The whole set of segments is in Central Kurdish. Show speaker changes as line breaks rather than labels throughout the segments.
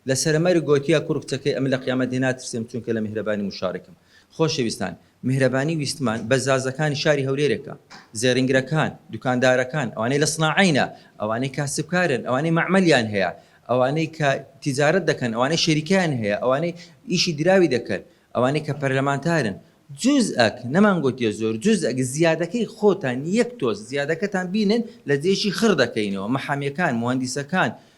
لە سەرەمەرگ گۆتیە کوڕ کچەکەی ئەمن لە قیامەت هێ ناترسێم چونکە لە میهرەبانی موشارکم. خۆشەویستان میهرەبانی ویستمان بەس زازەکانی شاری هەولێرێکە. زێڕینگرەکان، دوکاندارەکان، ئەوانەی لە سناعەینە، ئەوانەی کاسبکارن، ئەوانەی مەعمەلیان هەیە، ئەوانەی کە تیجارەت دەکەن، ئەوانەی شەریکەیان هەیە، ئەوانەی ئیشی دراوی دەکەن، ئەوانەی کە پەرلەمانتارن. جوزئەک، نەمان گۆتیە زۆر، جوزئەک زیادەکەی خۆتان یەک تۆز زیادەکەتان بینن لە جێیشی خڕ دەکەینەوە، مەحامیەکان، موهەندیسەکان،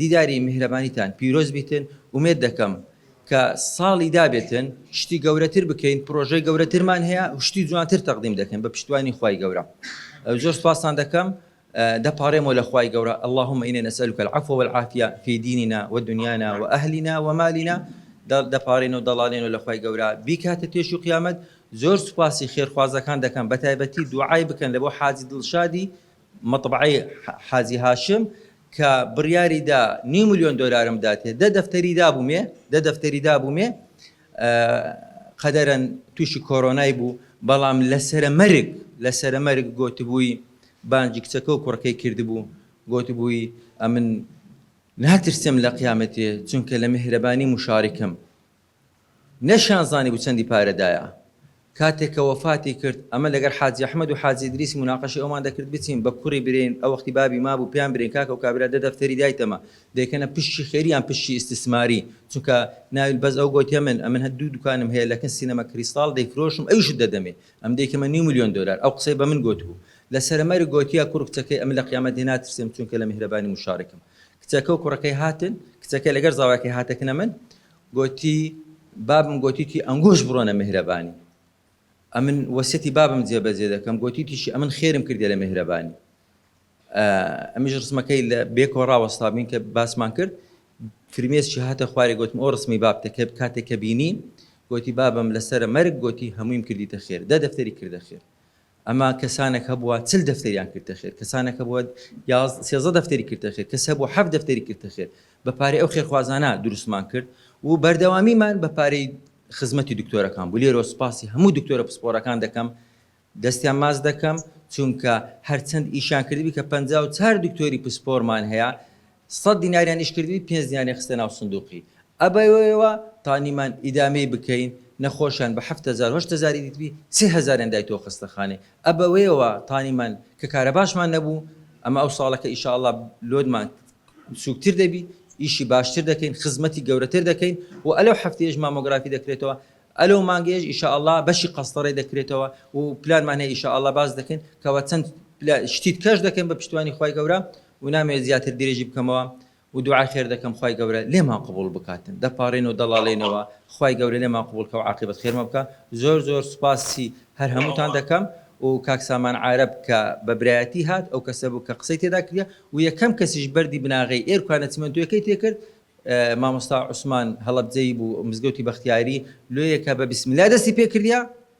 دیداری میهرەبانیتان پیرۆز بیتن ئومێد دەکەم کە ساڵی دابێتن شتی گەورەتر بکەین پرۆژەی گەورەترمان هەیە شتی جوانتر تەقدیم دەکەین بە پشتوانی خی گەورە زۆر سپاسان دەکەم دەپارێمەوە لە خی گەورە اللهم ئینێ نەسەلوکە العفو والعافیە فی دیننا ودنیانا وأهلنا ومالنا دەپارێن و دەڵالێن و لە خی گەورە بیکاتە تێش و قیامەت زۆر سوپاسی خێرخوازەکان دەکەم بە تایبەتی دوعای بکەن لە بۆ حاجی دڵشادی مەتبەعەی حاجی هاشم کە بڕیاری دا نیو ملیۆن دۆلارم بداتێ، دە دەفتەری دابوومێ، دە دەفتەری دابوومێ، قەدەرەن تووشی کۆرۆنای بوو، بەڵام لە سەرە مەرگ، لە سەرە مەرگ گۆتبووی بانگی کچەکە و کوڕەکەی کردبوو، گۆتبووی ئەمن ناترسێم لە قیامەتێ، چونکە لە میهرەبانی موشاریکم، نەشیان زانیبوو چەندی پارەدایە کاتێک کە وەفاتی کرد ئەمە لەگەر حاجی ئەحمەد و حاجی ئیدریسی موناقەشەی ئەومان دەکرد بچین بە کوڕی برێین ئەوەختی بابی مابوو پێیان برێین کاکە و کابرا دە دەفتەری دایتەمە دەیکەنە پشکی خێری یان پشکی ئیستسماری چونکە ناوی بەس ئەو گۆتیە من ئەمن هەر دوو دوکانم هەیە لەکن سینەما کریستاڵ دەیفرۆشم ئەویشت دەدەمێ ئەم دەیکەمە نیو ملیۆن دۆلار ئەو قسەی بەمن گۆتبوو لە سەر مەرگ گۆتیە کوڕ کچەکەی ئەمن لە قیامەت لێ ناترسێم چونکە لە میهرەبانی موشارکم کچەکە و کوڕەکەی هاتن کچەکە لەگەر زاواکەی هاتەکنە من گۆتی، بابم گۆتیتی ئەنگۆش بڕۆنە مێهرەبانی، ئەمن وەسیەتی بابم جێ بەجێ دەکەم، گۆتیتیشی ئەمن خێرم کردیە لە مێهرەبانی. ئە، ئەمیش ڕسمەکەی لە بێکەوە ڕاوەستابین کە باسمان کرد، فرمێسکی هاتە خوارێ گۆتم ئۆ ڕسمی بابتە کە کاتێ کە بینی، گۆتی، بابم لە سەرە مەرگ گۆتی هەموویم کردیتە خێر، دە دەفتەری کردە خێر. ئەما کەسانەک هەبووە چل دەفتەریان کردتە خێر، کەسانەک هەبووە یازدە، سێزدە دەفتەری کردتە خێر، کەس هەبووە حەفت دەفتەری کردتە خێر، بە پارەی ئەو خێرخوازانە دروستمان کرد و بەردەوامیمان بە پارەی خزمەتی دکتۆرەکان بوو، لێرەوە سوپاسی هەموو دکتۆرە پسپۆرەکان دەکەم، دەستیان ماچ دەکەم، چونکە هەرچەند ئیشیان کردبی کە پەنجا و چار دکتۆری پسپۆرمان هەیە، سەد دیناریان ئیش کردبی پێنج دیناریان خستە ناو سندوقی ئەبەوەیەوە تا نیمان ئیدامەی بکەین نەخۆشیان بە حەفت هەزار و هەشت هەزاری دیتبی سێ هەزاریان دایتەوە خەستەخانەی ئەبەوەیەوە تا نیمان کە کارەباشمان نەبوو ئەمە ئەو ساڵەکە ئیشاڵا لۆدمان سوکتر دەبی ئیشی باشتر دەکەین خزمەتی گەورەتر دەکەین و ئەلەو حەفتەیەش مامۆگرافی دەکرێتەوە ئەلەو مانگەیەش ئیشاڵا بەشی قەستەڕێ دەکرێتەوە و پلانمان هەیە ئیشاڵا باس دەکەین کەوە چەند شتیت کەش دەکەین بە پشتیوانی خوای گەورە ونامەوێت زیاتر درێژی بکەمەوە ودوعای خێر دەکەم خوای گەورە لێمان قبوڵ بکاتن دەپاڕێن و دەڵاڵێنەوە خوای گەورە لێمان قبوڵ کە وعاقیبەت خێرمان بکا زۆر زۆر سوپاسی هەر هەمووتان دەکەم و کاک سامان عارەب کە بە برایەتی هات ئەو کەسە بوو کە قسەی تێدا کردە و یەکەم کەسیش بەردی بناغەی ئێرکوانە چمەنتۆیەکەی تێکرد مامۆستا عوسمان هەڵەبجەیی بوو مزگەوتی بەختیاری لۆیەکە بە بسم اللە دەستی پێکردە